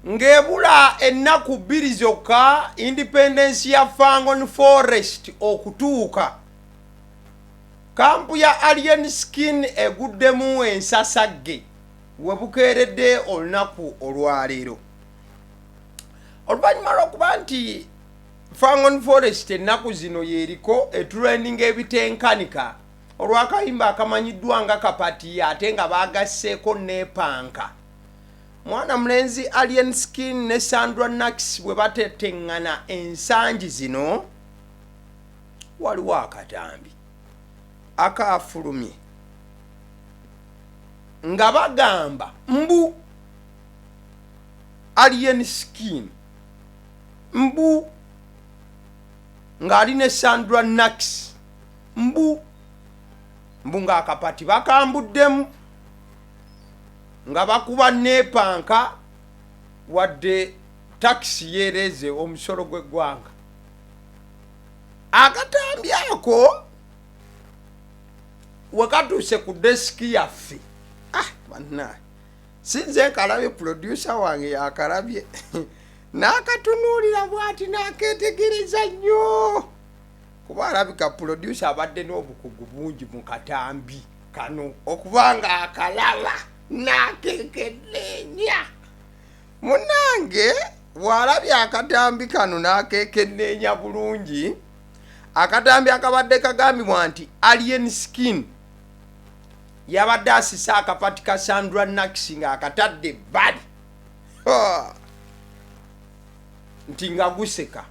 Ng'ebula ennaku bbiri zokka independence ya Fangon Forest okutuuka, kkampu ya Alien Skin eguddemu ensasagge we bukeeredde olunaku olwaleero. Oluvannyuma lw'okuba nti Fangon Forest ennaku zino y'eriko etulendinga ebitenkanika olw'akayimba akamanyiddwa nga Kapati ate nga baagasseeko Neepanka, mwana mulenzi alien skin ne sandra nax bwe bateteŋŋana ensangi zino waliwo akatambi akaafulumye nga bagamba mbu alien skin mbu ng'ali ne sandra nax mbu mbu ng'akapati bakambuddemu nga bakuba neepanka wadde takisi yeereeze omusolo gw'eggwanga akatambi ako wekatuuse ku desiki yaffe ah, bannaye sinze nkalabye pulodyusa wange yakalabye n'akatunuulira bwati n'akeetegereza nnyo kuba alabika pulodyusa abadde n'obukugu bungi mu katambi kano okuba nga akalaba nakekeneenya munange bwalabye akatambi kano nakekeneenya bulungi akatambi akabadde kagambibwa nti alien skin yabadde asise akapati ka sandra nax nga akatadde ebbali nti nga guseka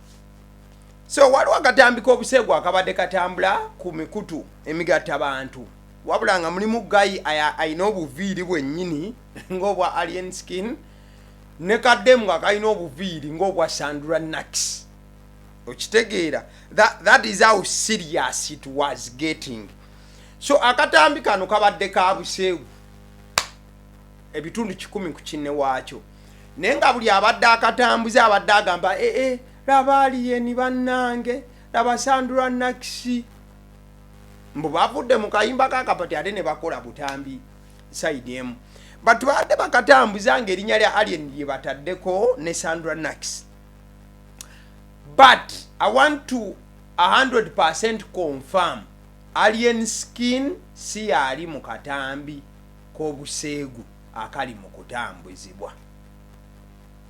so waliwo akatambi k'obuseegu akabadde katambula ku mikutu emigatta bantu wabula nga mulimu gayi alina obuviiri bwennyini ng'obwa alien skin ne kaddemu nga kalina obuviiri ng'obwa sandura nax okitegeera that, that is how serious it was getting so akatambi kano kabadde ka buseegu ebitundu kikumi ku kinne waakyo naye nga buli abadde akatambuze abadde agamba ee eh, eh, laba aliyeni bannange laba sandura nakisi mbu bavudde mu kayimba kakapati ate ne bakola butambi saidi emu batu baadde bakatambuza nga erinnya lya alien lye bataddeko ne sandra nax but i want to 100 percent confirm alien skin si yaali mu katambi k'obuseegu akali mu kutambuzibwa.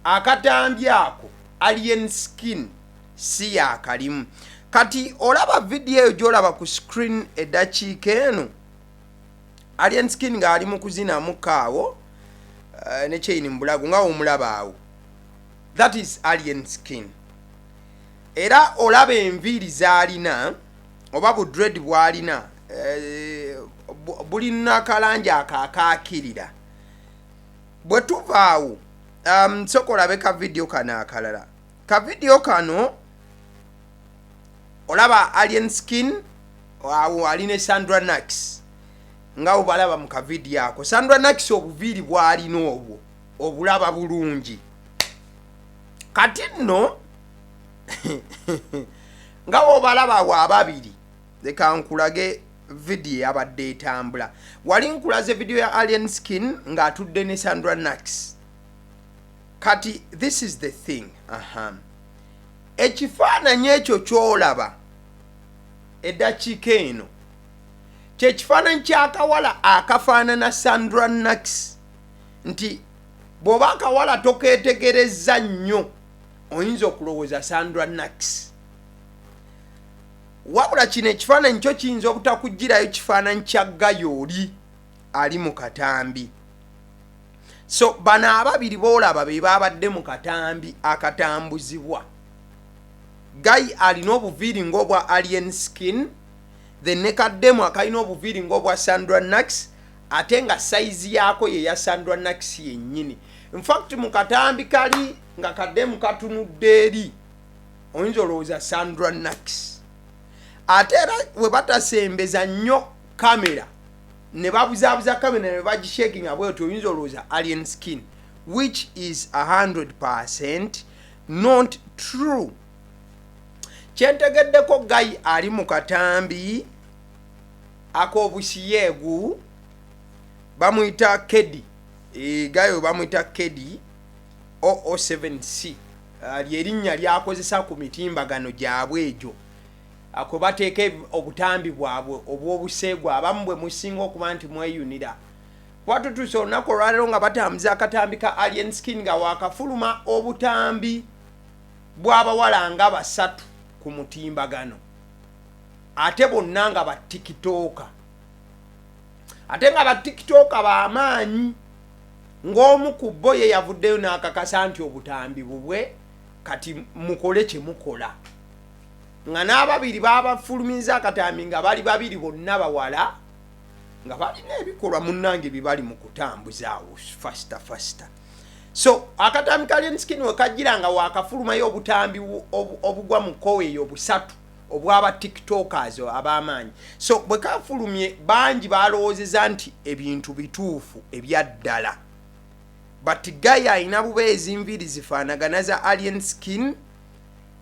Akatambi ako Alien Skin si yaakalimu. Kati olaba vidiyo eyo gy'olaba ku screen eddakiika eno, Alien Skin ng'ali mu kuzinamu kaawo eh, ne kyeyini mu bulago nga omulaba awo. That is Alien Skin. Era olaba enviiri z'alina oba bu dread bwalina eh, bulina kalangi akakakirira bwe tuvaawo um, soka olabe ka vidiyo kano akalala ka vidiyo kano olaba alien skin awo ali ne sandra nax nga obalaba mu kavidiyo ako sandra nax obuviiri bwalina obwo obulaba bulungi kati nno nga obalaba wa babiri leka nkulage vidiyo yabadde etambula wali nkulaze vidiyo ya alien skin ng'atudde ne sandra nax kati this is the thing aha ekifaananyi ekyo kyolaba eddakiika eno kyekifaananyi kyakawala akafaanana sandra nax nti bw'oba akawala tokeetegerezza nnyo oyinza okulowooza sandra nax wabula kino ekifaananyi kyo kiyinza obutakugirayo kifaananyi kya gayo oli ali mu katambi so bano ababiri boolaba be baabadde mu katambi akatambuzibwa gayi alina obuviiri ngaobwa alien skin then ne kaddemu akalina obuviiri ngaobwa sandra nax ate nga sayizi yaako ye ya sandra nakisi yennyini infact mu katambi kali nga kademu katunudde eri oyinza olowooza sandra nakisi ate era we batasembeza nnyo kamera ne babuzaabuza kamera ne bagishakinga bwetyo oyinza olowooza alien skin which is 100 percent not true kyentegeddeko gayi ali mu katambi akobushiegu bamuyita kedi Eh, guy oyo bamuyita kedi 007c Ah, lyerinnya lyakozesa ku mitimbagano gyabwe egyo ako bateeka eb- obutambi bwabwe obw'obuseegu abamu bwe musinga okuba nti mweyunira kuba tutuuse olunaku olwaleero nga batambuza akatambi ka alien skin nga wakafuluma obutambi bw'abawala nga basatu ku mutimbagano ate bonna nga ba tikitooka ate nga ba tikitooka bamaanyi ng'omu ku bo ye yavuddeyo n'akakasa nti obutambi bubwe kati mukole kye mukola nga n'ababiri babafulumiza akatambi nga bali babiri bonna bawala nga balina ebikolwa munnange bibali mu kutambuzaawo fasita fasita so akatambi ka lenskin wekajjira nga wakafulumayo obutambi obugwa mu koweeyo obusatu obwaba tiktokers abamaanyi so bwekafulumye bangi balowozeza nti ebintu bituufu ebyaddala but guy alina bubeezi enviiri zifaanagana za alien skin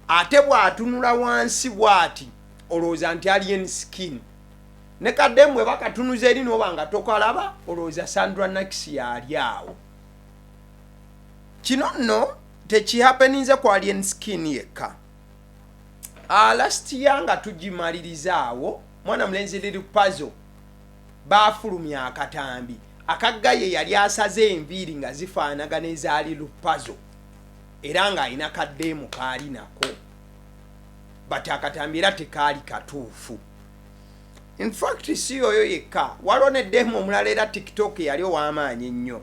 ate bwatunula wansi bwati olowooza nti alien skin ne kademu eba katunuza eri noba nga tokalaba olowooza sandra nax yali awo kino nno tekihapeninze ku alien skin yekka alasitiya ah, nga tugimaliriza awo mwana mulenzi liri pazo baafulumya akatambi akagga ye yali asaze enviiri nga zifaanagana ezaali lupazo era ng'alina kaddeemu kaali nako but akatambi era tekaali katuufu infact si yoyo yekka waliwo ne deemu omulala era tiktok yali ow'amaanyi ennyo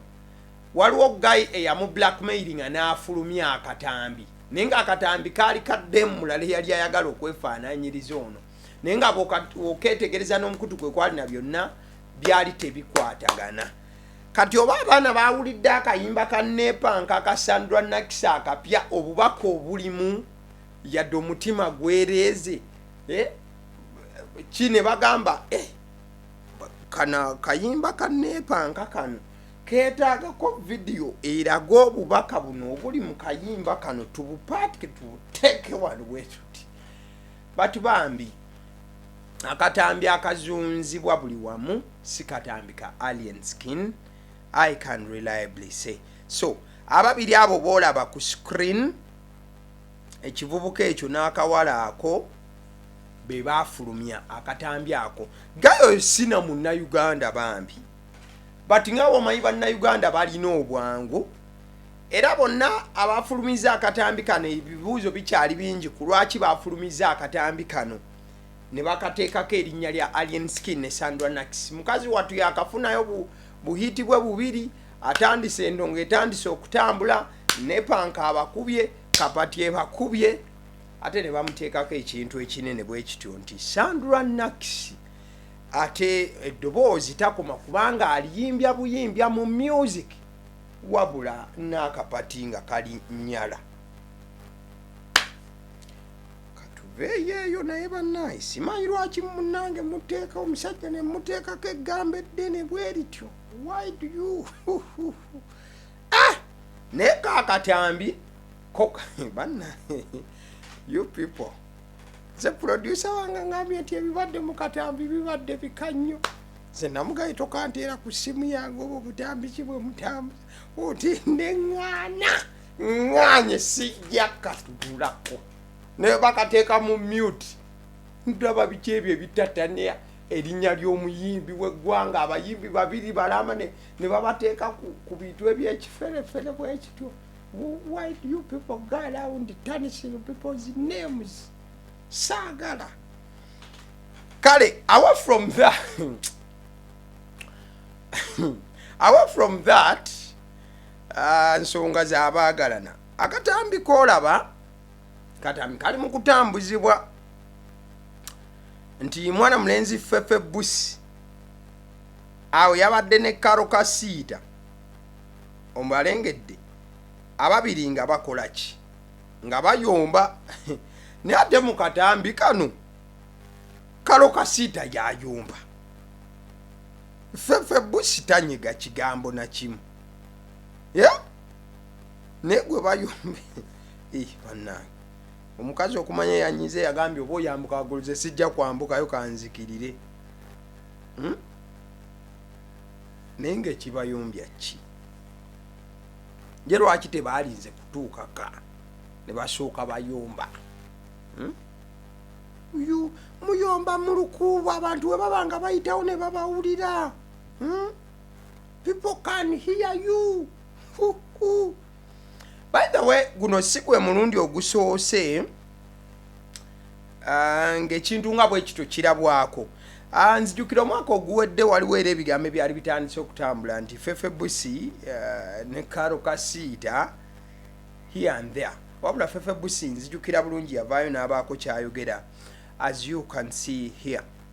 waliwo guy eyamu blackmailinga n'afulumya akatambi naye nga akatambi kaali kaddemu mulala eyali ayagala okwefaananyiriza ono naye nga oketegereza n'omukutu kwe kwalina byonna byali tebikwatagana kati oba abaana bawulidde akayimba ka nepanka aka sandra nakisa akapya obubaka obulimu yadde omutima gwereeze eh, ki ne bagamba eh, kana kayimba ka nepanka kano keetaagako vidiyo eraga obubaka buno obuli mu kayimba kano tubupaatike tubuteeke wano bwetuti batu bambi akatambi akazunzibwa buli wamu si katambi ka alien skin i can reliably say so ababiri abo boolaba ku screen ekivubuka ekyo n'akawala ako be baafulumya akatambi ako gayo sina munnauganda bambi but nga womanyi bannayuganda balina obwangu era bonna abafulumiza akatambi kano ebibuuzo bikyali bingi ku lwaki bafulumiza akatambi kano ne bakateekako erinnya lya alien skin ne sandra nax mukazi wattu yakafunayo buhiiti bwe bubiri atandise endongo etandise okutambula nepanka abakubye kapati ebakubye ate ne bamuteekako ekintu ekinene bwe kityo nti sandra nax ate eddoboozi takoma kubanga aliyimbya buyimbya mu music wabula n'akapati nga kali nyala eyeeyo naye banaye simanyi lwaki munange muteeka omusajja ne muteekako eggambo eddene bwe lityo wide you ah! naye kakatambi koka banaye you people nze producer wange ngambye nti ebibadde mu katambi bibadde bika nnyo nze namugaye tokanteera ku ssimu yange oba obutambi ki bwe mutambi oti neŋŋaana ŋŋaanye sijja katugulako naye bakateeka mu mute ndaba biki ebyo ebitatania erinnya ly'omuyimbi w'eggwanga abayimbi babiri balama ne babateeka ku bintu ebyekiferefere bwekityo why do you people go around tarnishing people's names saagala kale away from that away from that uh, nsonga zabaagalana akatambi kolaba katambi kali mu kutambuzibwa nti mwana mulenzi fefe busi awo yabadde ne karo kasiita ombalengedde ababiri nga bakolaki nga bayomba naye ate mukatambi kano kalo kasiita yayomba fefe busi tanyiga kigambo nakimu yeah? naye gwe bayombe eh, banange omukazi okumanya yanyize yagambye oba oyambuka wagulu ze sijja kwambukayo kanzikirire hmm? naye nga ekibayombya ki nje lwaki tebaalinze kutuukaka ne basooka bayomba hmm? uyu muyomba mu lukuubo abantu we baba nga bayitawo ne babawulira hmm? people can hear you by the way guno si gwe mulundi ogusoose Ah, ng'ekintu nga bwe kityo kirabwako ah, nzijukira omwaka oguwedde waliwo era ebigambo ebyali bitandise okutambula nti fefe busi ah, ne karo kasiita here and there wabula fefe busi nzijukira bulungi yavaayo n'abaako kyayogera as you can see here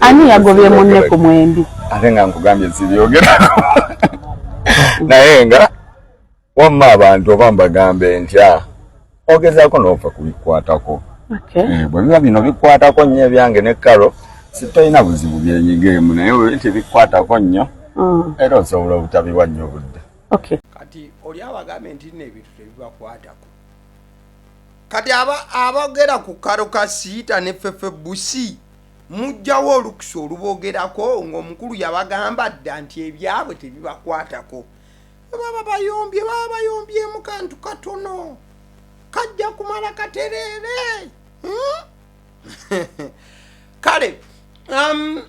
ani yagobye munne ku mwembi ate nga nkugambye zibyogerako naye nga wamma abantu oba mbagambe ntya ogezaako noofa kubikwatako eh, bwe biba bino bikwatako nnyo ebyange ne karo sitolina buzibu byenyigeemu naye webinti bikwatako nnyo mm. era osobola obutabiwa nnyo obudde kati oli awo agambye nti nno ebintu tebibakwatako kati abogera ku karo kasiita ne fefe busi mujjawo olukusa olubogerako ngaomukulu yabagamba dda nti ebyabwe tebibakwatako baba bayombye baba bayombyemu kantu katono kajja kumala katereere hmm? kale um,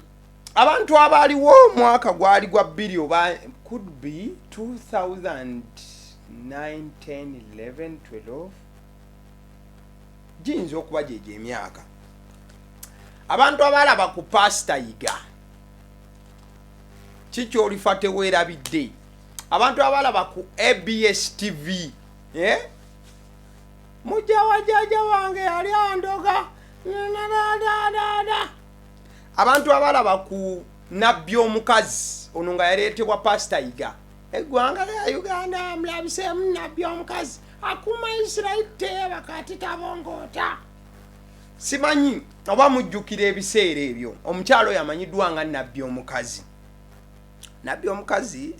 abantu abaaliwo omwaka gwali gwa bbiri oba could be 2009 11 giyinza okuba gyegyo emyaka abantu abaalaba ku paasita yiga kikyolifa teweerabidde abantu abaalaba ku abs tv eh? mujja wajaja wange yali andoga nadadadada abantu abalaba ku nabbi omukazi ono nga yaleetebwa pasita yiga eggwanga lya uganda mulabiseemu nabbi omukazi akuuma isirairi teeba kati tabongoota simanyi oba mujjukira ebiseera ebyo omukyalo oyo amanyiddwa nga nabbi omukazi nabbi omukazi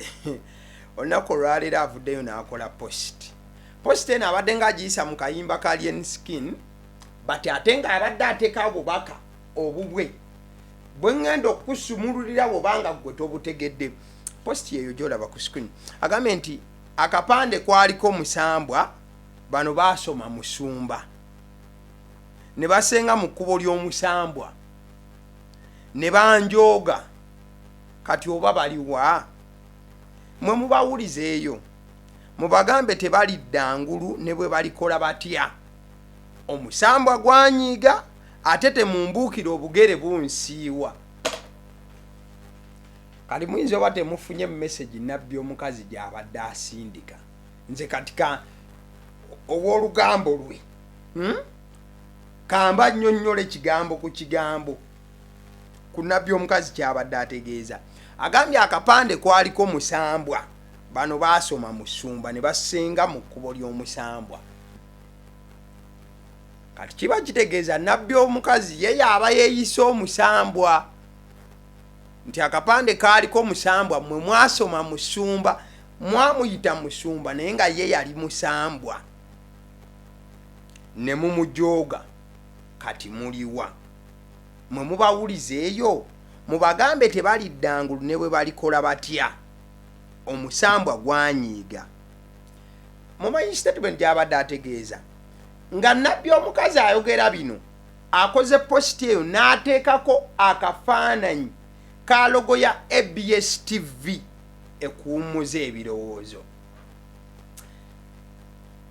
olunaku olwaleero avuddeyo n'akola post post eno abadde nga agiyisa mu kayimba ka lien skin but ate nga abadde ateka obubaka obubwe bwengenda okusumululira bwobanga gwe tobutegedde post yeyo gyolaba ku screen agambye nti akapande kwaliko musambwa bano basoma musumba ne basenga mu kkubo ly'omusambwa ne banjooga kati oba baliwa mwe mubawulizeeyo mubagambe tebalidda ngulu ne bwe balikola batya omusambwa gwanyiiga ate temumbuukira obugere bunsiiwa kati muyinza oba temufunye message nabbi omukazi gyabadde asindika nze katika owolugambo lwe hmm? kamba nyonyola ekigambo ku kigambo ku nabbi omukazi kyabadde ategeeza agambye akapande kwaliko musambwa bano baasoma musumba ne basenga mu kkubo ly'omusambwa kati kiba kitegeeza nabbi omukazi ye yaaba yeeyise omusambwa nti akapande kaaliko omusambwa mmwe mwasoma musumba mwamuyita musumba naye nga ye yali musambwa ne mumujooga kati muliwa mwe mubawulizeeyo mubagambe tebaliddangulu ne bwe balikola batya omusambwa gwanyiiga mumanyi statement gyabadde ategeeza nga nabbi omukazi ayogera bino akoze positi eyo n'ateekako akafaananyi ka logo ya abs tv ekuwummuza ebirowoozo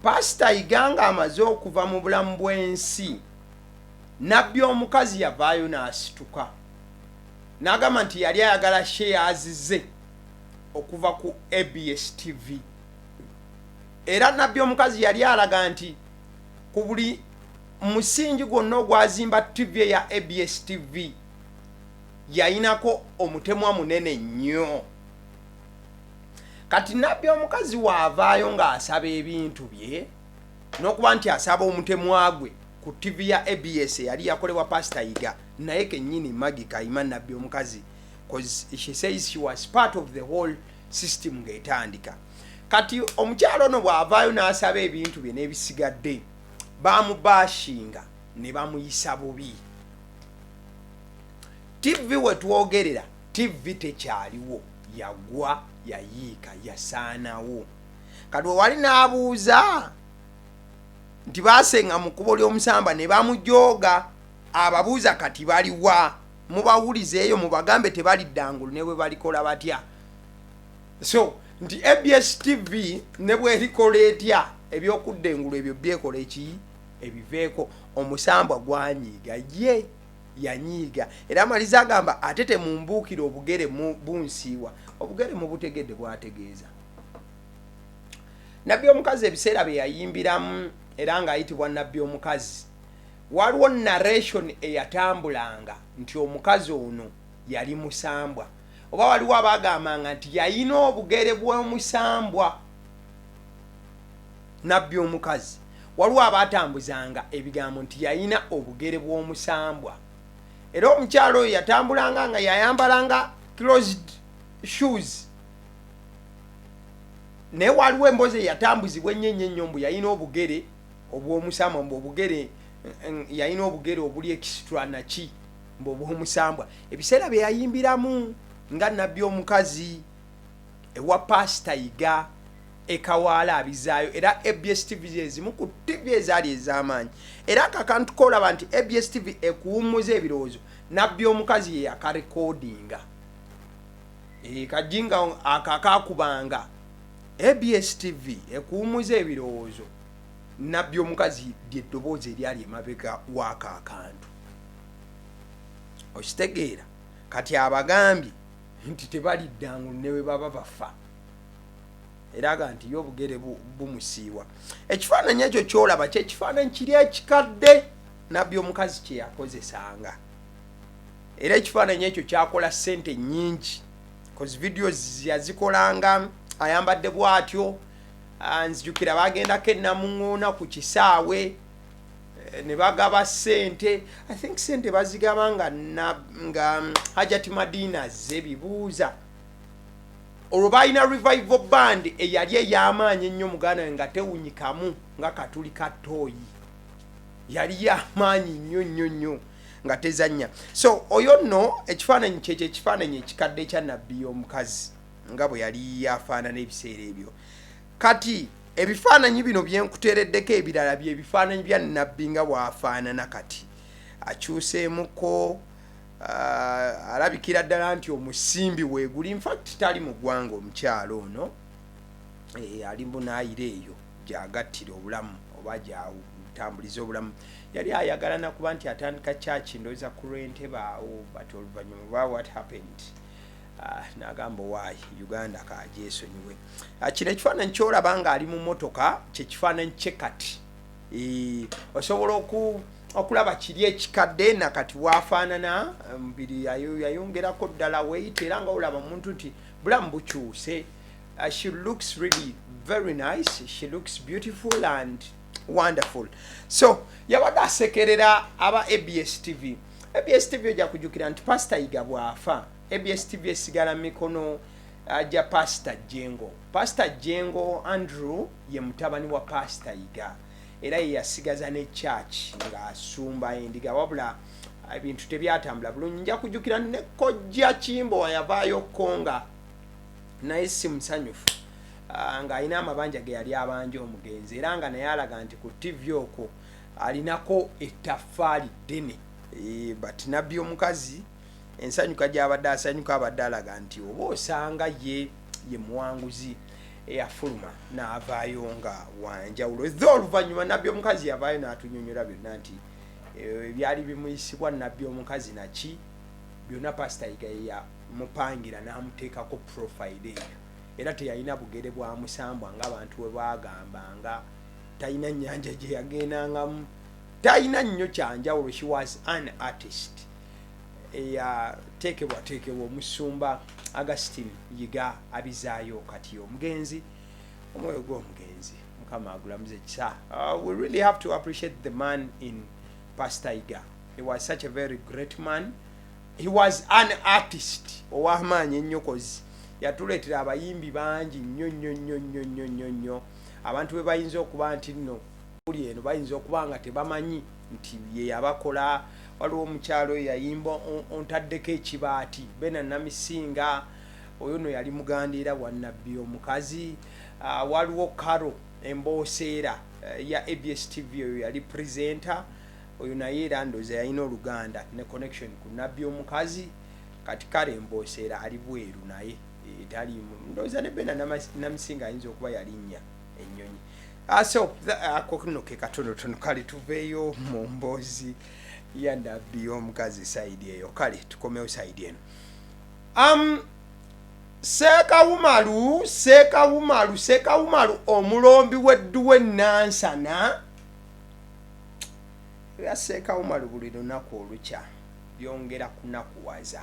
pasita iganga amaze okuva mu bulamu bw'ensi nabbi omukazi yavaayo n'asituka n'agamba nti yali ayagala shares ze okuva ku abs tv era nabbi omukazi yali alaga nti ku buli musingi gwonna ogwazimba ttivi eya abs tv yayinako omutemwa munene nnyo kati nabbi omukazi waavaayo ng'asaba ebintu bye nokuba nti asaba omutemwa gwe ku tivi ya abs eyali yakolebwa pasita yiga naye kenyini magi kayima nabbi omukazi she says she was part of the whole system ngaetandika kati omukyalo ono bwavaayo nasaba ebintu bye nebisigadde bamubashinga ne bamuyisa bubi tivi wetwogerera tivi tekyaliwo yagwa yayiika yasaanawo kati wewali n'abuuza nti baasenga mu kkubo ly'omusamba ne bamujooga ababuuza kati baliwa mubawulize eyo mubagambe tebalidda ngulu ne bwe balikola batya so nti abs tv ne bwerikola etya ebyokudda engulu ebyo byekola eki ebiveeko omusambwa gwanyiiga ye yanyiiga era amaliza agamba ate temumbuukira obugere bunsiiwa obugere mubutegedde bwategeeza nabbi omukazi ebiseera bye yayimbiramu era ng'ayitibwa nabbi omukazi waliwo narration eyatambulanga nti omukazi ono yali musambwa oba waliwo abaagambanga nti yalina obugere bw'omusambwa nabbi omukazi waliwo abaatambuzanga ebigambo nti yalina obugere bw'omusambwa era omukyalo oyo yatambulanga nga yayambalanga closed shoes naye waliwo embozi eyatambuzibwa ennyo ennyo ennyo mbu yalina obugere obw'omusambwa mbu obugere yalina obugere obuli ekisitula naki mbu obw'omusambwa ebiseera bye yayimbiramu nga nabbi omukazi ewa paasita yiga ekawaala abizaayo era abs tv zezimu ku tv ezaali ez'amaanyi era kakantu koolaba nti abs tv ekuwummuza ebirowoozo nabbi omukazi ye yakarekoodinga Eh, kajinga akakakubanga abs tv ekuwumuza ebirowoozo nabbi omukazi lyeddoboozi eryali emabega waako akantu okitegeera kati abagambye nti tebaliddangu ne bwe baba bafa eraga nti ye obugere bumusiiwa ekifaananyi ekyo kyolaba kyekifaananyi kiri ekikadde nabbi omukazi kyeyakozesanga era ekifaananyi ekyo kyakola ssente nnyingi bcause vidiyo yazikolanga ayambadde bwatyo ah, nzijukira bagendako enamuŋoona ku kisaawe eh, ne bagaba ssente i think ssente bazigaba nga nga mm, hajati madina ze bibuuza olwo balina revival band eyali ey'amaanyi ennyo muganda we nga tewunyikamu nga katuli ka tooyi yali y'amaanyi nnyo nnyo nnyo nga tezannya so oyo nno ekifaananyi kyekyo ekifaananyi ekikadde ekya nabbi y'omukazi nga bwe yali afaanana ebiseera ebyo kati ebifaananyi bino byenkuteereddeko ebirala byebifaananyi bya nabbi nga bwafaanana kati akyuseemuko uh, alabikira ddala nti omusimbi weeguli infact tali mu ggwanga omukyalo ono e, ali munaayira eyo gyagattira obulamu oba gyawu tambuliza obulamu yali ayagala nakuba nti atandika church ndoza ku lwentebe awo but oluvanyuma oba what happened ah, nagamba owaayi uganda kagyesonyiwe ah, kino ekifaananyi kyolaba nga ali mu motoka kyekifaananyi kye kati eh, osobola oku okulaba kiri ekikadde na kati wafaanana mubiri yayongerako ddala weyita era nga olaba omuntu nti bulamu bukyuse Uh, she looks really very nice. She looks beautiful and wonderful. So, yabadde asekerera aba ABS TV. ABS TV ojja kujukira nti Pastor Iga bwafa. ABS TV esigala mikono aja uh, Pastor Jengo. Pastor Jengo Andrew ye mutabani wa Pastor Iga. Era ye yasigaza ne church nga asumba endiga wabula uh, ebintu tebyatambula bulungi. Nja kujukira ne kojja Kimbo yavaayo konga naye si musanyufu ah, ng'alina amabanja ge yali abanja omugenzi era nga naye alaga nti ku ttivi okwo alinako ettaffaali ddene eh, but nabbi omukazi ensanyuka gy'abadde asanyuka abadde alaga nti oba osanga ye ye muwanguzi eyafuluma n'avaayo nga wanjawulo eza oluvannyuma nabbi omukazi yavaayo n'atunyonyola byonna nti eh, ebyali bimuyisibwa nabbi omukazi naki byonna pasita yigayeya mupangira n'amuteekako purofayiro eyo era teyalina bugere bwa musambwa nga abantu we baagamba nga talina nnyanja gye yagendangamu talina nnyo kyanjawulo she was an artist eyateekebwateekebwa omusumba augustin yiga abizaayo kati omugenzi omwoyo gw'omugenzi mukama agulamuze kisa uh, we really have to appreciate the man in pastor yiga he was such a very great man he was an artist owamaanyi ennyokozi yatuleetera abayimbi bangi nnyo nnyo nnyo nnyo nnyo nnyo nnyo abantu be bayinza okuba nti nno uli eno bayinza okuba nga tebamanyi nti ye yabakola waliwo omukyalo oyo yayimba ontaddeko ekibaati bena namisinga oyo no yali muganda era wanabbi omukazi ah, waliwo karo embooseera eh, ya abs tv oyo yali presenter Oyo naye era ndoza yalina oluganda ne connection ku nabbi omukazi kati kale mbosera ali bweru naye eh, talimu ndoza ne bena namusinga ayinza okuba yalinya enyonyi ah, so ako no ke katono tono kale tuveyo mu mbozi ya nabbi omukazi side eyo kale tukomewo side eno um, sekawumalu sekawumalu sekawumalu omulombi wedduwe nansana ebya seeka umaru buli lunaku olukya byongera kunakuwaza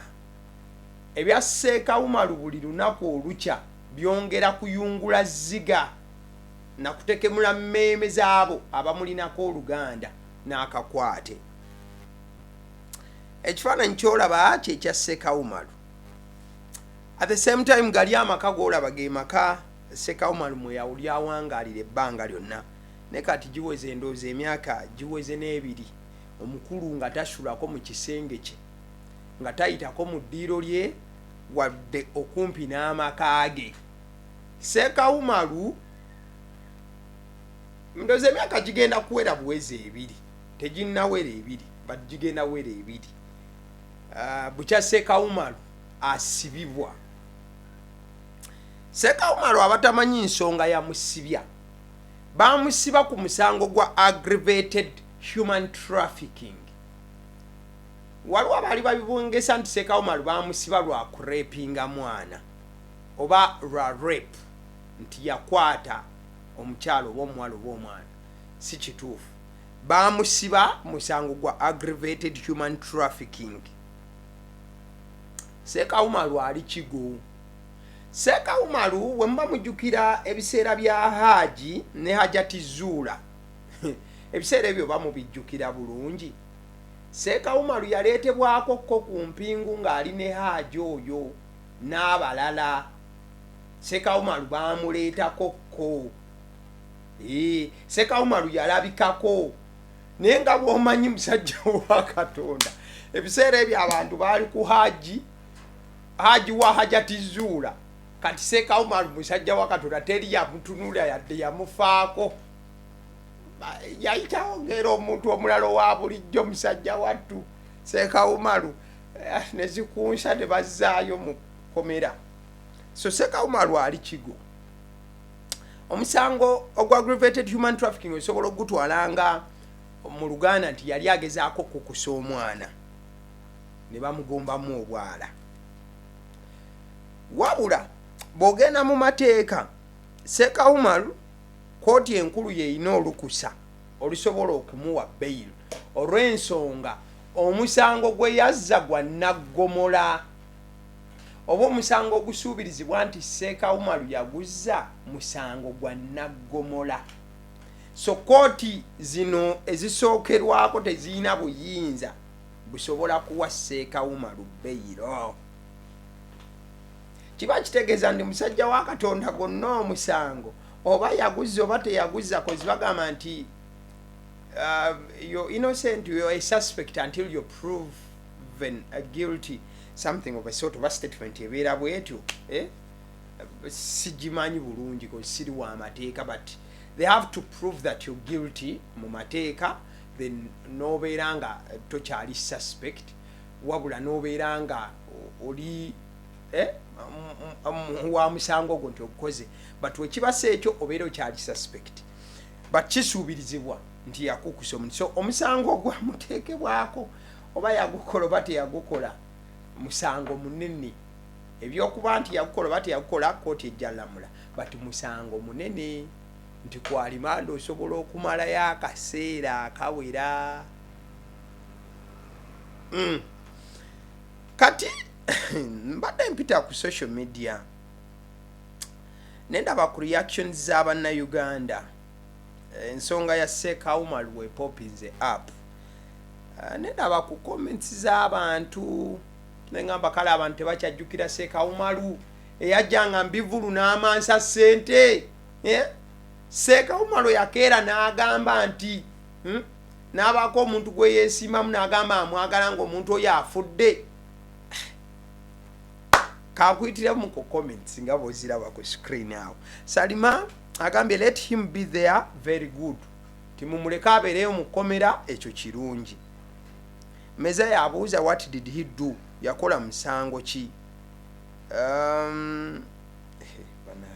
ebya seeka umaru buli lunaku olukya byongera kuyungula zziga nakutekemula mmeeme zaabo abamulinako oluganda n'akakwate ekifaananyi kyolaba kyekya seeka umaru at the same time gali amaka golaba ge maka seeka umaru mweyawulyawangaalira ebbanga lyonna Naye kati giweze ndowooza emyaka giweze n'ebiri omukulu nga tasulako mu kisenge kye, nga tayitako mu ddiiro lye wadde okumpi n'amaka ge. Ssekawumalu ndowooza emyaka gigenda kuwera buwezi ebiri, teginnawera ebiri but gigenda wera ebiri ah, bukya Ssekawumalu asibibwa. Ssekawumalu abatamanyi nsonga yamusibya. baamusiba ku musango gwa aggravated human trafficking waliwo abaali babibongesa nti sekawumalu baamusiba lwa kurepinga mwana oba lwa rape nti yakwata omukyalo oba omuwala oba omwana si kituufu baamusiba musango gwa aggravated human trafficking sekawumalu ali kigo Seeka Umaru bwe muba mujjukira ebiseera bya Haaji ne Hajati Zuula, ebiseera ebyo oba mubijjukira bulungi? Seeka Umaru yaleetebwako ko ku mpingu ng'ali ne Haaji oyo n'abalala. Seeka Umaru baamuleetako ko. Eeh, Seeka Umaru yalabikako. Naye nga bw'omanyi musajja wa Katonda, ebiseera ebyo abantu baali ku Haaji. haji wa hajati zuula kati seeka umar musajja wa katonda teri yamutunula yadde yamufaako Ba- yayitawo ngera omuntu omulalo wa bulijjo musajja wattu seeka umaru eh, ne zikunsa ne bazzaayo mu komera so seeka umaru ali kigo omusango ogwa aggravated human trafficking osobola okugutwala nga mu luganda nti yali agezaako okukusa omwana ne bamugombamu obwala wabula bw'ogenda mu mateeka seeka umar kkooti enkulu yeerina olukusa olusobola okumuwa beyiro olw'ensonga omusango gwe yazza gwa nnaggomola oba omusango ogusuubirizibwa nti seeka umar yaguzza musango gwa nnaggomola so kkooti zino ezisookerwako tezirina buyinza busobola kuwa seekawuma lubeyiro kiba kitegeeza ndi musajja wa katonda gonna omusango oba yaguza oba teyaguza kozi bagamba nti um, your innocent your a suspect until you prove even a guilty something of a sort of a statement ebeera bwetyo eh? sigimanyi bulungi kozi siri wa mateeka but they have to prove that you're guilty mu mateeka then nobeera nga tokyali suspect wabula nobeera nga oli eh, wa musango ogwo nti ogukoze but wekibasa ekyo obeera okyali suspect but kisuubirizibwa nti yakukusa omuntu so omusango ogwamuteekebwako oba yagukola oba teyagukola musango munene ebyokuba nti yakukola oba teyakukola kooti ejjalamula but musango munene nti ku alimanda osobola okumalayo akaseera akawera mm. kati mbadde mpita ku social media nendaba ku reactions z'abannayuganda ensonga ya seekawumal wepopinze app eh, nendaba ku comments z'abantu nengamba kale abantu tebakyajjukira seekawumalu eyajjanga mbivulu n'amansa ssente eh? seekawuma lwe yakeera n'agamba nti hmm? n'abaako omuntu gwe yeesiimamu n'agamba amwagala ng'omuntu oyo afudde kakuyitiramu ku comments nga bwoziraba ku screen awo salima agambye let him be there very good timumuleke abeereyo mu kkomera ekyo kirungi meza yabuuza what did he do yakola musango ki um,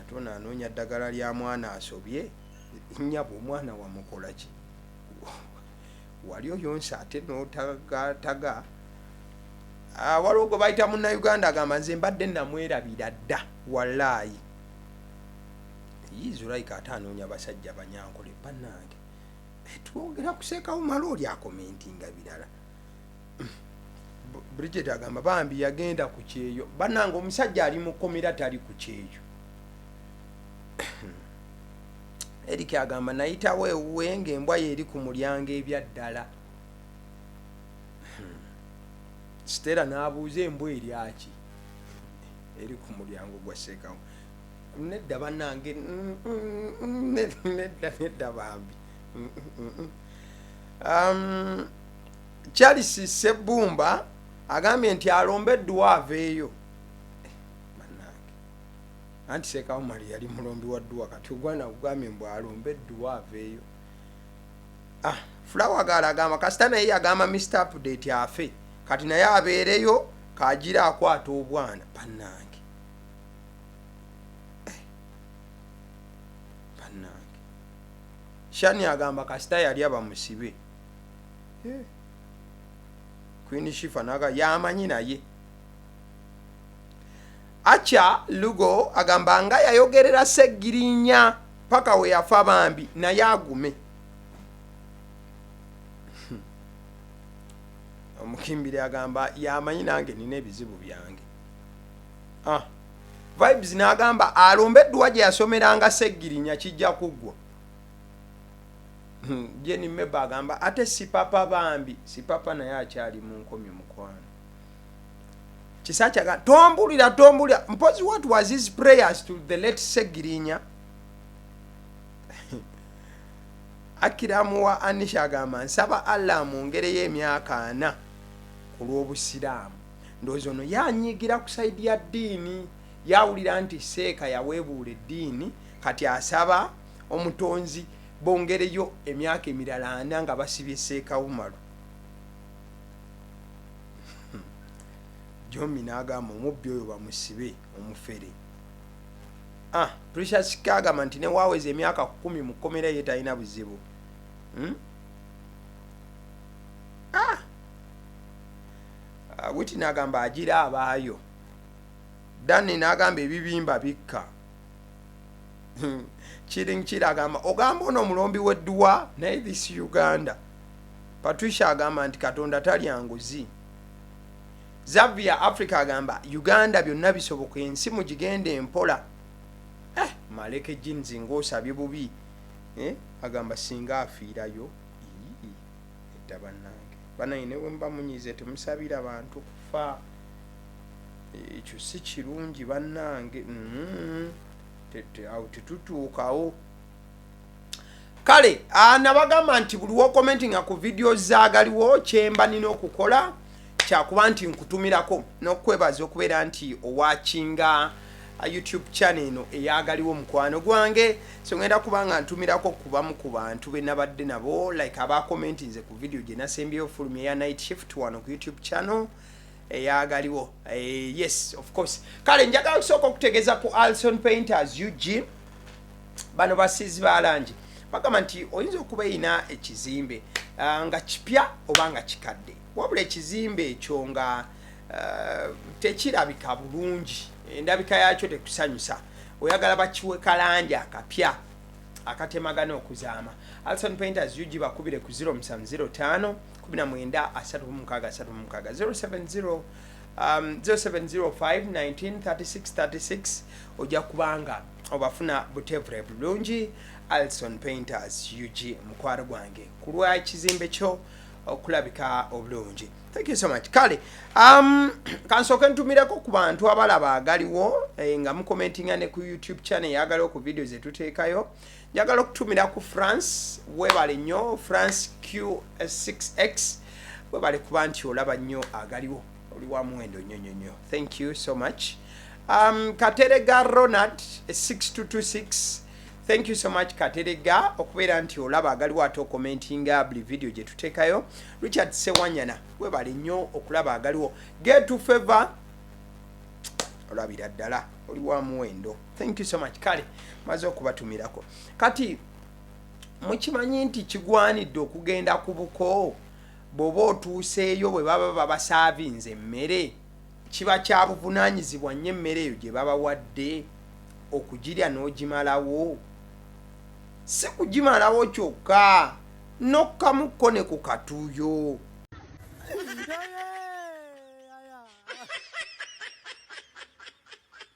ate ono anoonya ddagala lya mwana asobye nyabo omwana wamukola ki wali oyonsa ate notagataga ah, waliwo gwe bayita munauganda agamba nze mbadde namwerabira dda walaayi yizuraika ate anoonya basajja banyankole banange eh, twogera kusekawo mala oli akomentinga birala bridget agamba bambi yagenda ku kyeyo banange omusajja ali mukomera tali ku kyeyo erik agamba nayitawo ewuwe nga embwa yeeri ku mulyango ebyaddala hmm. sitera n'abuuza embwa eryaki eri ku mulyango gwa seekawo nedda banange mm, mm, mm, nedda nedda bambi um, charles sebbumba agambye nti alomba edduwa aveeyo Bannange. anti seeka omali yali mulombi wa dduwa kati ogwana kugambye mbu alomba edduwa aveeyo ah, fulawa gaala agamba kasita naye yagamba mr update afe kati naye abeereyo kagira akwata obwana bannange Eh, bannange shani agamba kasita yalya bamusibe eh. queen shifa naga yamanyi naye acha lugo agamba nga yayogerera segirinya paka weyafa bambi naye agume hmm. omukimbiri agamba yamanyi nange nina ebizibu byange ah. vibes nagamba alumbe edduwa gye yasomeranga segirinya kijja kuggwa Hmm, Jane Meba agamba ate sipapa bambi, sipapa naye akyali mu nkomyo mukwano. Kisaki agamba tombulira tombulira mpozi what was his prayers to the late Segirinya? Akiramu wa Anisha agamba nsaba Allah amwongereyo emyaka ana ku lw'Obusiraamu. Ndowooza ono yanyigira ku saidi ya ddiini, yawulira nti seeka yaweebuula eddiini kati asaba omutonzi bongereyo emyaka emirala ana nga basibye seekawumalu hmm. jomi n'agamba omubbi oyo bamusibe omufere ah, precious kagamba nti newaweza emyaka kumi mu kkomera ye talina buzibu hmm? ah! ah witi n'agamba agira abaayo danne n'agamba ebibimba bikka hmm. kiring kiri agamba ogamba ono omulombi wedduwa naye this uganda patricia agamba nti katonda talya nguzi zavia africa agamba uganda byonna bisoboka ensi mugigenda empola eh, maleke jeans ngaosabye bubi eh, agamba singa afiirayo edda bannange banaye newemubamunyize temusabira bantu kufa ekyo si kirungi bannange mm-hmm. awo tetutuukawo kale anabagamba nti buli wokomenti nga ku vidiyo zagaliwo kyemba nina okukola kyakuba nti nkutumirako nokwebaza okubeera nti owakinga uh, youtube channel eno eyagaliwo omukwano gwange songenda kuba nga ntumirako kubamu ku bantu benabadde nabo like abakomenti nze ku vidiyo gyenasembyeyo fulumi eya night shift wano ku youtube channel eyagaliwo eh, yes of course kale njagala okusooka okutegeza ku alson painters ug bano basiizi balangi bagamba nti oyinza okuba erina ekizimbe uh, nga kipya oba nga kikadde wabula ekizimbe ekyo nga uh, tekirabika bulungi endabika yakyo tekusanyusa oyagala bakiwe kalangi akapya akatemagana okuzaama alson painters ug bakubire ku 0705 19 36 36 070 um, 0705193636 ojja kubanga obafuna butevure bulungi alison painters ug mukwaro gwange ku lwa kizimbe kyo okulabika obulungi thank you so much kale um, kansooke ntumireko ku bantu abalaba agaliwo eh, nga mukomentinga ne ku youtube channel yagaliwo ku video zetuteekayo njagala okutumira ku france webale nnyo france q6x webale kuba nti olaba nnyo agaliwo oli wa muwendo nnyo nnyo nnyo thank you so much um, katerega ronald 6226 thank you so much katerega okubeera nti olaba agaliwo ate okomentinga buli vidiyo gye tuteekayo richard sewanyana webale nnyo okulaba agaliwo getu favor olabira ddala oli wa muwendo thank you so much kale maze okubatumirako kati mukimanyi nti kigwanidde okugenda ku buko bwoba otuuseeyo bwe baba babasaavinze emmere kiba kya buvunanyizibwa nnyo emmere eyo gye babawadde okugirya n'ogimalawo si kugimalawo kyokka n'okukamukko ne ku katuuyo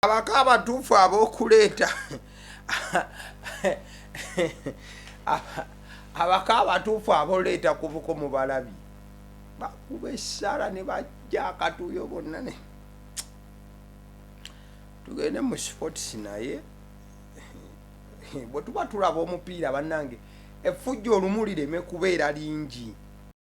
abako abatuufu abokuleeta abako abatuufu aboleeta kubuko mubalabi bakuba essala ne bajja akatuuyo bonna ne tugende mu sports naye bwe tuba tulaba omupiira bannange effujja olumu lireme kubeera lingi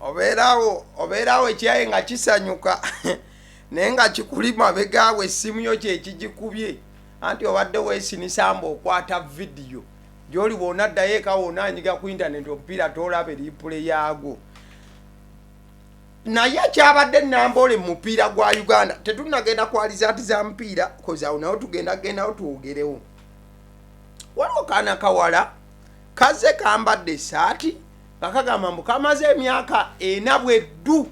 obeerawo obeerawo ekyaye nga kisanyuka naye nga kikuli mabegaawo essimu yo kyekigikubye anti obadde wesinisamba okwata vidiyo gyoli wona ddayo eka wona anyiga ku intaneti omupiira tolaba eripule yaagwo naye kyabadde namboole mumupiira gwa uganda tetunagenda kwalizaati za mupiira kozawo nawo tugenda gendawo twogerewo waliwo kaana kawala kaze kambadde esaati nga kagamba mbu kamaze emyaka ena bweddu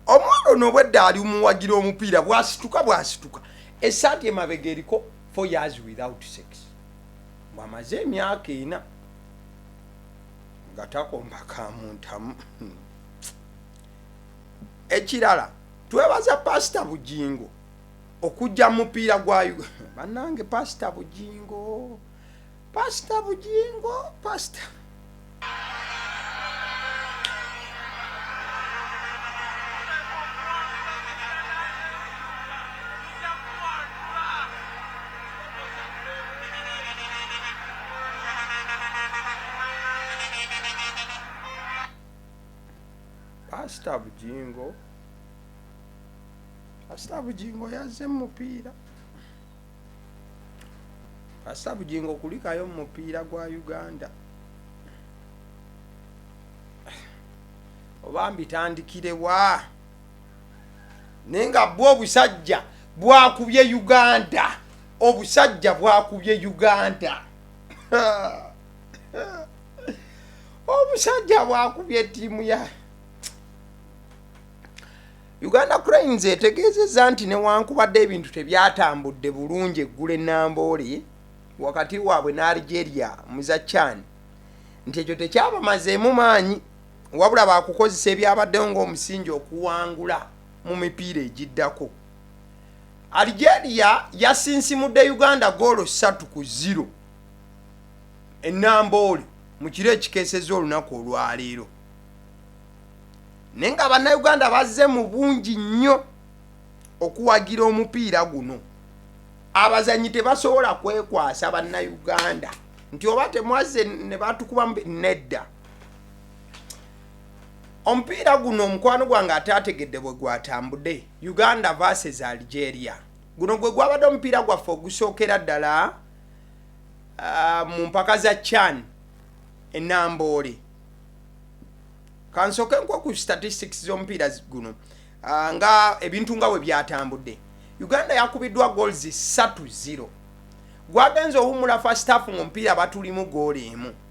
omwana ono obwedda ali omuwagira omupiira bwasituka bwasituka esaati emabega eriko four years without sex bwamaze emyaka ena nga takomba kamuntamu hmm. ekirala twebaza pasita bugingo okujja mu mupiira gwa Ug- bannange pasita bugingo pasita bugingo pasita pasita bujingo pasita bujingo yazze mu mupiira pasita bujingo kulikayo mu mupiira gwa uganda oba mbitandikirewa naye nga bwo obusajja bwakubye uganda obusajja bwakubye uganda obusajja bwakubye tiimu ya uganda cranes etegeezezza nti newankubadde ebintu tebyatambudde bulungi eggula enambooli wakati waabwe ne algeria muza chan nti ekyo tekyabamazeemu maanyi wabula baakukozesa ebyabaddewo ng'omusingi okuwangula mu mipiira egiddako. Algeria yasinsimudde Uganda ggoolo ssatu ku ziro e Namboole mu kiro ekikeesezza olunaku olwaleero naye nga bannayuganda bazze mu bungi nnyo okuwagira omupiira guno abazanyi tebasobola kwekwasa bannayuganda nti oba temwazze ne batukuba nedda omupiira guno omukwano gwange ataategedde bwe gwatambude uganda vases algeria guno gwe gwabadde omupiira gwaffe ogusookera ddala uh, mu mpaka za chan enamboole kansooke nkwa ku statistics z'omupiira guno uh, nga ebintu nga bwe byatambudde uganda yakubiddwa goals 3 0 gwagenze owumula fastafu mu mupiira batulimu goolo emu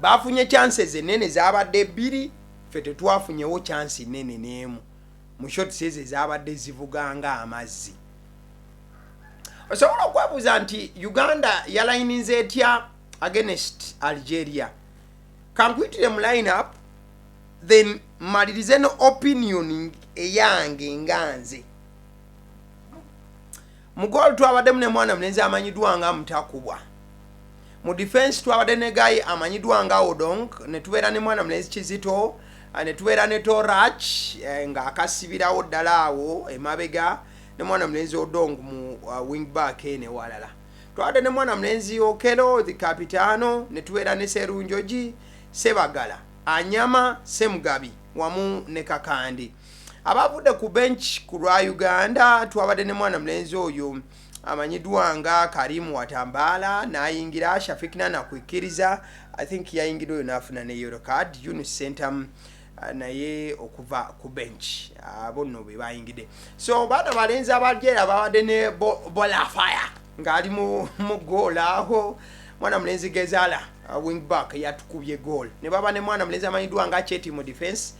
baafunye chances enene zaabadde bbiri ffe tetwafunyewo chansi nene n'emu mu shots ezo ezaabadde zivuga nga amazzi osobola okwebuuza nti uganda yalayininza etya against algeria kankuyitire mu line up then malirize no opinion eyange nga nze Mu goal twabaddemu ne mwana mulenzi amanyiddwa nga Mutakubwa. Mu defense twabadde ne Guy amanyiddwa nga Odong ne tubeera ne mwana mulenzi Kizito eh, ne tubeera ne Torach eh, nga akasibirawo ddala awo emabega ne mwana mulenzi Odong mu uh, wing back ene walala. Twabadde ne mwana mulenzi Okelo the Capitano ne tubeera ne Serunjoji Sebagala Anyama Semugabi wamu ne Kakandi. Abaavudde ku bench ku lwa Uganda twabadde ne mwana mulenzi oyo amanyiddwa nga Karim Watambaala n'ayingira, Shafiq Nana kwikkiriza I think yayingidde oyo n'afuna ne yellow card, Yunus Ssentamu ah, naye okuva ku bench abo ah, nno be baayingidde. So baana balenzi abajeera babadde ne Bola Fire ng'ali mu goal aho mwana mulenzi Gezala ah, wing back yatukubye goal ne baba ne mwana mulenzi amanyiddwa nga Cheti mu defence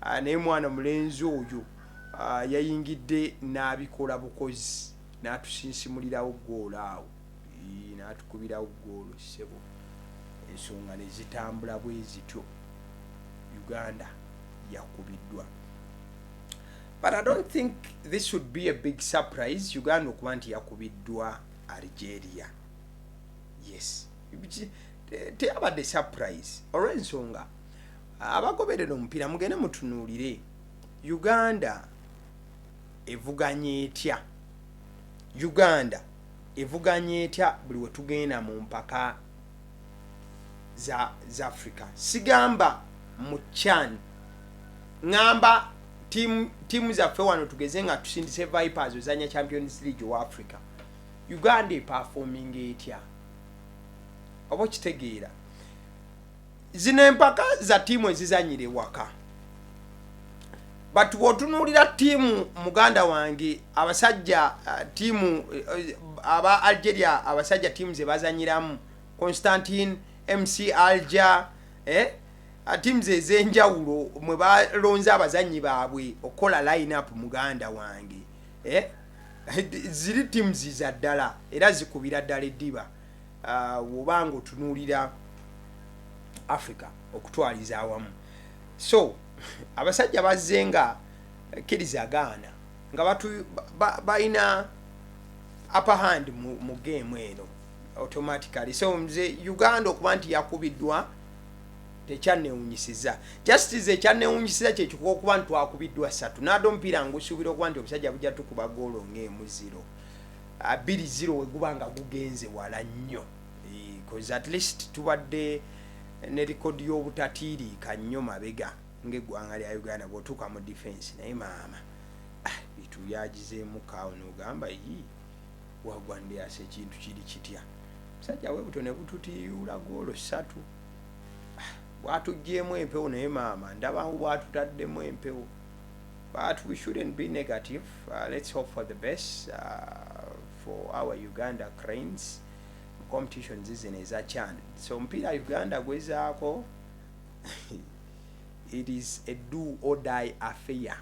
ah, naye mwana mulenzi oyo ah, yayingidde n'abikola bukozi n'atusinsimulirawo ggoolo awo n'atukubirawo ggoolo ssebo ensonga ne zitambula bwe zityo uganda yakubiddwa but i don't think this would be a big surprise uganda okuba nti yakubiddwa algeria yes teyabadde surprise olw'ensonga abagoberera omupiira mugende mutunuulire uganda evuganya etya uganda evuganya etya buli wetugenda mu mpaka za, za africa sigamba mu chan ŋamba tiimu zaffe wano tugeze nga tusindise vipers ozanya champions league owa africa uganda epafominga etya oba okitegeera zino empaka za tiimu ezizanyira ewaka but bwotunuulira tiimu muganda wange abasajja uh, tiimu uh, aba algeria abasajja tiimu zebazanyiramu constantine mc alger eh? Uh, tiimu zezenjawulo mwe balonze abazanyi baabwe okukola line up muganda wange eh? ziri tiimu ziza ddala era zikubira ddala eddiba uh, woba nga otunuulira africa okutwaliza awamu so abasajja bazze nga kiriza gaana nga balina upper hand mu, mu game eno automatically so nze uganda okuba nti yakubiddwa tekyanewunyisiza just is ekyanewunyisiza kyekikuba okuba nti twakubiddwa satu nade omupiira ngusuubira okuba nti obusajja bujja tukuba goolo ngaemu ziro abiri zero weguba nga gugenze wala nnyo bcause at least tubadde ne likodi y'obutatiiriika nnyo mabega ngaeggwanga lya uganda bwotuuka mu defense naye maama ah, bitu byagizeemu kaawo nogamba yi wagwa ndeasa ekintu kiri kitya musajja webuto ne bututiyuula goolo ssatu ah, bwatuggyemu empewo naye maama ndabawo bwatutaddemu empewo but we shouldn't be negative uh, let's hope for the best uh, for our uganda cranes competition zizino eza chan so omupiira uganda gwezaako it is a do or die affair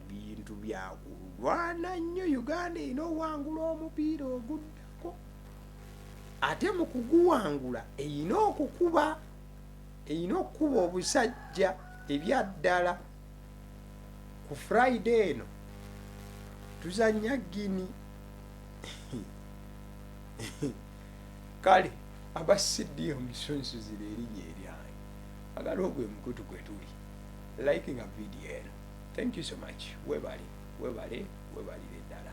bintu byakulwana nnyo uganda erina owangula omupiira oguddako ate mu kuguwangula erina okukuba erina okukuba obusajja ebyaddala ku friday eno tuzanya gini kale aba cda omusunsuziba erinya eryange agala ogwo emukutu gwe tuli like nga vidiyo eno thank you so much webale webale webalire ddala